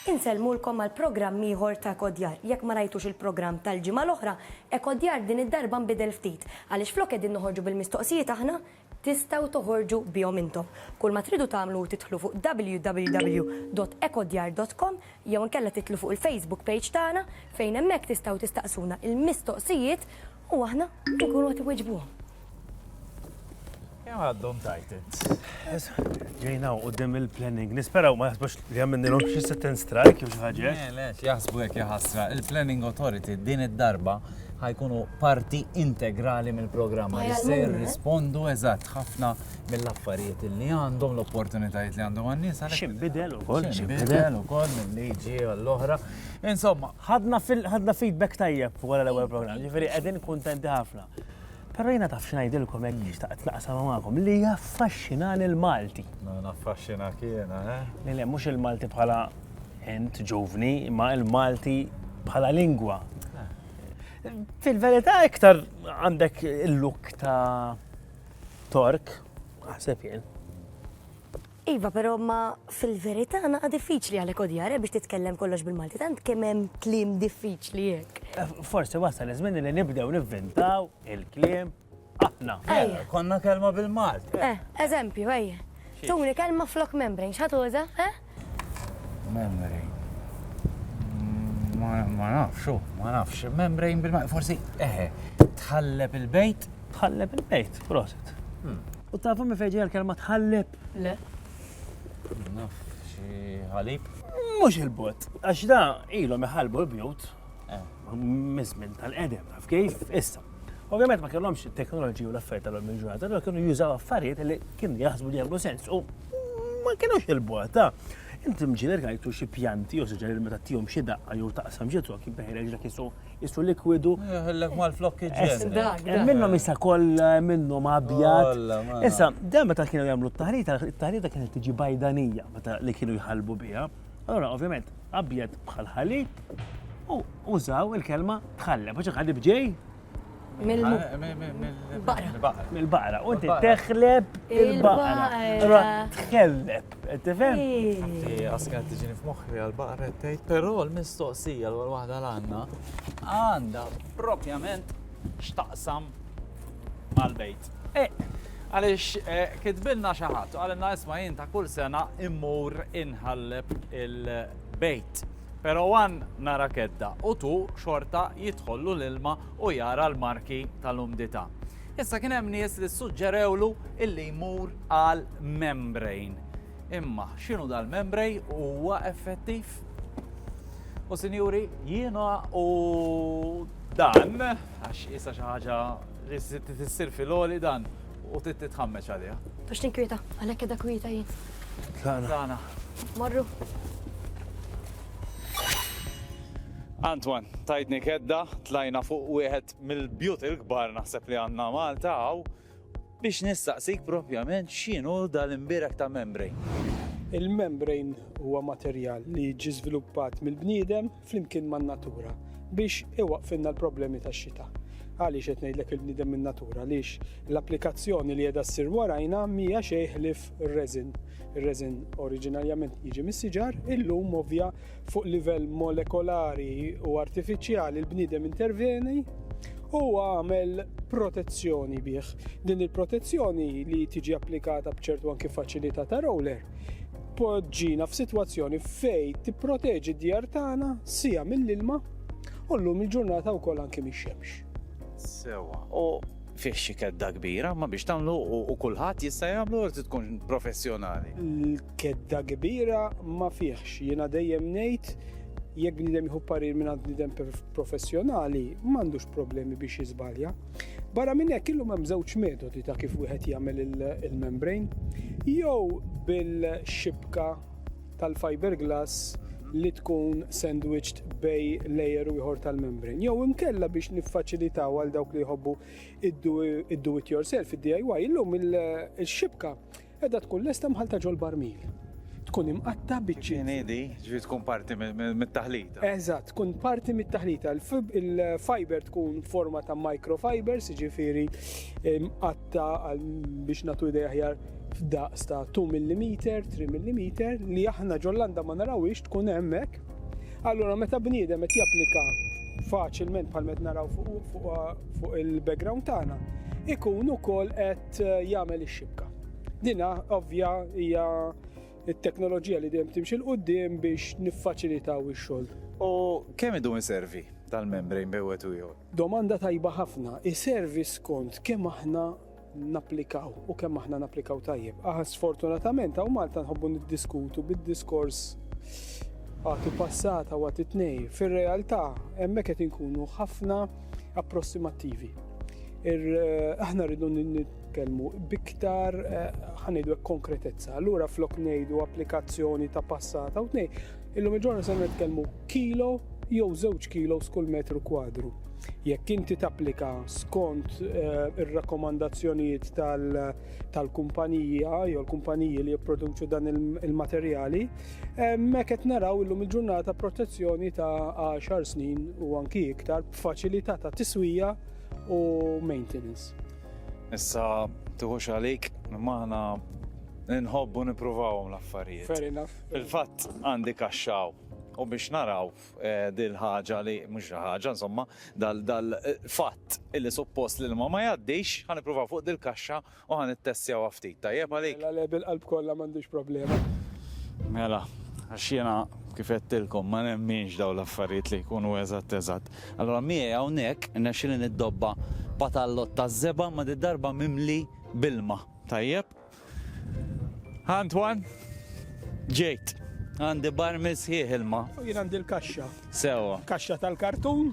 Insellmulkom għal programm ieħor ta' Ekodjar. Jekk ma rajtux il-programm tal-ġimgħa l-oħra, Ekodjar din id-darba nbidel ftit, għaliex flok qegħdin noħorġu bil-mistoqsijiet aħna, tistgħu toħorġu bihom intom. Kull ma tridu tagħmlu hu tidħlu fuq www.ekodjar.com jew inkella tidħlu fuq il-Facebook page tagħna fejn hemmhekk tistgħu tistaqsuna l-mistoqsijiet U aħna nkunu qed iweġbuhom. Kemm għaddhom tajt int. Ġejna u qudiem il-planning. Nisperaw ma jaħsbux li għamilnilhom xi sit-in strike jew xi ħaġa. Eh, le, jaħsbu hekk jaħasra. Il-Planning Authority din id-darba ħajkunu parti integrali mill-programm. Ma jista' jirrispondu eżatt ħafna mill-affarijiet li għandhom l-opportunitajiet li għandhom għan-nies. Xinbidel ukoll, xinbidel ukoll mill-liġi għall-oħra. Insomma, Ħadna fil ħadna feedback tajjeb wara l-ewwel programm, ġifieri qegħdin kuntenti ħafna. Però jiena taf x'ngħidilkom hekk mm. xtaqt naqsam magħkom li jaffaxxinani l-Malti. No, naffaxxina kiena, eh? Le, le, mhux il-Malti bħala int ġuvni, imma il-Malti bħala lingwa. Eh. Fil-verità iktar għandek il-luk ta' Tork, ħaseb jien. Iva pero ma fil-verita naqa diffiċli għalek odjar eh biex titkellem kollox bil-Malti tant kemm hemm kliem diffiċli hekk. Eh, forsi wasal iż-żmien li nibdew nivvintaw il-kliem aħna. Ejja. Eh, konna kelma bil-Malti. Eh, eżempju, ejja. Tuni kelma flok membrane, x'ħat uża? Eh? Membrane. Mm, ma nafx, oh, ma nafx. Membrane bil-Malti, forsi eħe, tħalleb il-bejt Tħalleb il-bejt, proset. Hmm. U tafu mi fejġi għal-kelma tħalleb? Le. Naf, xie ħalib? Mux il-bot, għax da ilu meħalbu l-bjut, eh. mizmin tal-edem, taf kif, issa. Ovvijament ma kellhomx teknoloġi u l-affarijiet tal-lum il-ġurnata, l kienu jużaw affarijiet li kienu jaħsbu li jagħmlu sens u ma kienux il-bot, ta' inti mġiler għajtu xie pjanti u suġġeri meta tijom xie daqqa jew taqsam ġitu għak jibbeħi reġla kisu Issu likwidu. Jħellek mal-flokki ġen. Hemm minnhom issa kollha, hemm minnhom abjad. Issa, dan meta kienu jagħmlu t-taħrita, it-taħrita kienet tiġi bajdanija meta li kienu jħalbu biha. Allora, ovvjament, abjad bħal ħalib u użaw il-kelma tħalleb. Għax ħalib ġej, Mill-baqra. Mill-baqra. U inti teħleb il-baqra. Tħelleb. Tifhem? Inti għaskat tiġini f'moħħi għal-baqra tgħid, però l-mistoqsija l waħda l-għandna għandha propjament x'taqsam mal-bejt. Eh. Għaliex eh, kitbilna xi ħadd, għalinna isma' jien ta' kull sena immur inħalleb il-bejt. Pero wan nara kedda u tu xorta jidħollu l-ilma u jara l-marki tal-umdita. Issa kien hemm nies li ssuġġerewlu illi jmur għal membrane. Imma x'inhu dal-membrej huwa effettiv? U sinjuri, jiena u dan, għax isa xi ħaġa li tissir fil-oli dan, U trid titħammeġ għaliha. Biex tinkwieta, għalhekk qiegħda kwieta jien. Tlaqna. Tlaqna. Marru. Antoine, tajdni kedda, tlajna fuq wieħed mill-bjut il-kbar naħseb li għandna Malta għaw biex nistaqsik propjament x'inhu dal-imbirek ta' membrane. Il-membrane huwa materjal li ġi żviluppat mill-bniedem flimkien man-natura biex iwaqqfilna l-problemi tax-xita. Għaliex qed ngħidlek il-bniedem min-natura? Għaliex l-applikazzjoni li qiegħda ssir warajna m'hija xejn ħlief r-resin. Ir-resin oriġinarjament jiġi mis-siġar, illum ovvja fuq livell molekolari u artifiċjali l-bniedem interveni u għamel protezzjoni bih. Din il-protezzjoni li tiġi applikata b'ċertu anki faċilità ta' roller Poġġina f'sitwazzjoni fejn tipproteġi d-djar tagħna sija mill-ilma u llum il-ġurnata wkoll anki mix-xemx. Sewwa. U fih xi kedda kbira, ma biex tagħmlu u kulħadd jista' jagħmlu jew tkun professjonali? L-kedda kbira ma fihx. Jiena dejjem ngħid jekk bniedem jieħu parir mingħand bniedem professjonali m'għandux problemi biex jiżbalja. Barra minn hekk illum hemm żewġ metodi ta' kif wieħed jagħmel il-membrane. Jew bil-xibka tal-fiberglass li tkun sandwiched bej layer u ieħor tal-membrane. Jew imkella biex niffaċilitaw għal dawk li jħobbu id-do it yourself, id-DIY, illum il-xibka Qiegħda tkun lesta mħallta ġol-barmil. Tkun imqatta' biċċiet. Inhi di, ġifieri tkun parti mit-taħlita. Eżatt, tkun parti mit-taħlita. Il-fiber tkun forma ta' microfibers, jiġifieri mqatta' biex nagħtu idea aħjar f'daqs ta' 2 millimeter, 3 millimeter, li aħna ġol-landa ma narawhiex tkun hemm hekk. Allura meta bniedem qed japplika faċilment bħal met naraw fuq il-background tagħna, ikun ukoll qed qed jagħmel ix-xibka. Dina ovvja hija it-teknoloġija li dejjem timxi l-qudiem biex niffaċilitaw ix-xogħol. U kemm idum iservi tal-membrane bejn wieħed u ieħor? Domanda tajba ħafna. Iservi skont kemm aħna napplikaw u kemm aħna napplikaw tajjeb. Aħna sfortunatament hawn Malta nħobbu niddiskutu bid-diskors għati passata u għati tnej. Fir-realtà hemmhekk qed inkunu ħafna approssimattivi. Eh, aħna rridu nitkellmu biktar eh, ħanidu konkretezza. Allura flok ngħidu applikazzjoni ta' passata u tnej, illum il-ġurnal se nitkellmu kilo jew żewġ kilo skull metru kwadru. Jekk inti tapplika skont eh, ir-rakkomandazzjonijiet tal-kumpanija jew l-kumpaniji li jipproduċu dan il-materjali, Hemmhekk qed naraw illum il-ġurnata protezzjoni ta' 10 snin u anki iktar b'faċilità ta' tiswija u maintenance. Issa tuħux għalik, maħna nħobbu nipruvawhom l-affarijiet. Fair enough. Fil-fatt għandi kaxxaw u biex naraw eh, dil-ħaġa li mhux ħaġa insomma dal-fatt illi suppost li ma ma jgħaddix ħan ippruvaw fuq dil-kaxxa U ħa nittestjawha ftit, tajjeb għalik? Mela le, bil-qalb kollha m'għandix problema. Mela, għax jiena kif għedtilkom ma nemminx dawn l-affarijiet li jkunu eżatt eżatt. Allura miegħi hawnhekk irnexxieli niddobba patallott taż-żebgħa imma did-darba mimli b'ilma, tajjeb? Antoine? Ġejt. Għandi barmil sħiħ ilma. U jien għandi l-kaxxa. Sewwa. Kaxxa tal-kartun.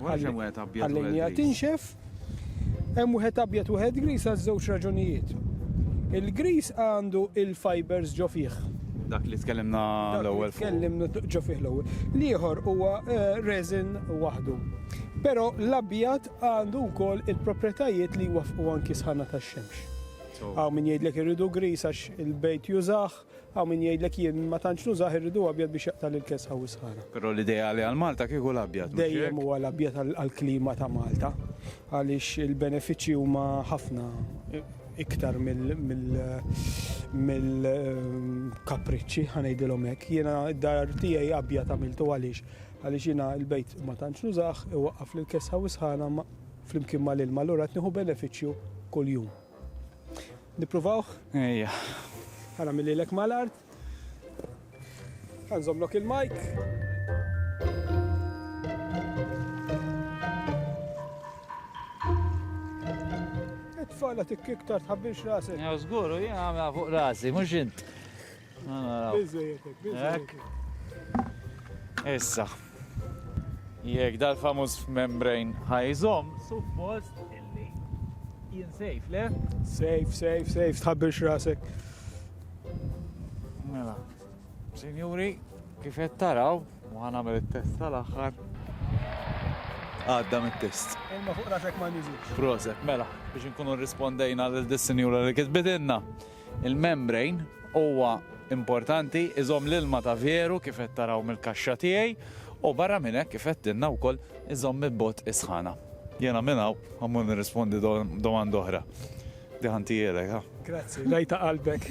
Ħallejniha tinxef. Hemm wieħed abjad u wieħed gris għal żewġ raġunijiet. Il-gris għandu il-fibers ġo fih. Dak li tkellimna l-ewwel. Tkellimna ġo fih l-ewwel. L-ieħor huwa eh, resin waħdu. Però l-abjad għandu wkoll il-proprjetajiet li jwaffqu anki sħana tax-xemx. Għaw min jgħidlek irridu gris għax il-bejt jużah, Hawn min jgħidlek jien ma tantx nużah irrid hu abjad biex jaqta' lill-kesħa u s-sħana. Però l-ideali għal Malta kieku l-abjad, mhux hekk? Dejjem huwa l-abjad għall-klima ta' Malta għaliex il-benefiċċji huma ħafna iktar mill-kapriċċi, ħa ngħidilhom hekk. Jiena d-dar tiegħi abjad għamiltu għaliex? Għaliex jiena l-bejt ma tantx nużah, iwaqqaf lill-kesħa u s-sħana flimkien mal-ilma allura qed nieħu benefiċċju kuljum. Nippruvawh? Ejja. Ħana millilek mal-art. Ħanżomlok il-mike. It-tfala tikkiktar tħabbirx rasek. Ja, żgur, u jien għamla fuq rasi, mhux int. Issa, jek dal-famuż membrane ħajżom, suppost illi jien safe, le? Safe, safe, safe, tħabbir xrasek. Mela, sinjuri, kif qed taraw, u ħanamel it-test tal-aħħar. Għadda mit-test. Imma fuq rasek ma nizit. Proset, mela, biex nkunu rispondejna l-dissinjura li kitbidinna. Il-membrane huwa importanti, iżomm l-ilma ta' veru kif qed taraw mill-kaxxa tiegħi u barra minn hekk kif għedtilna wkoll iżomm il-bogħod is-sħana. Jiena minn hawn ma mmur nirrispondi domanda oħra. Diħa ntielek, ha? Grazzi, l-għajta qalbek.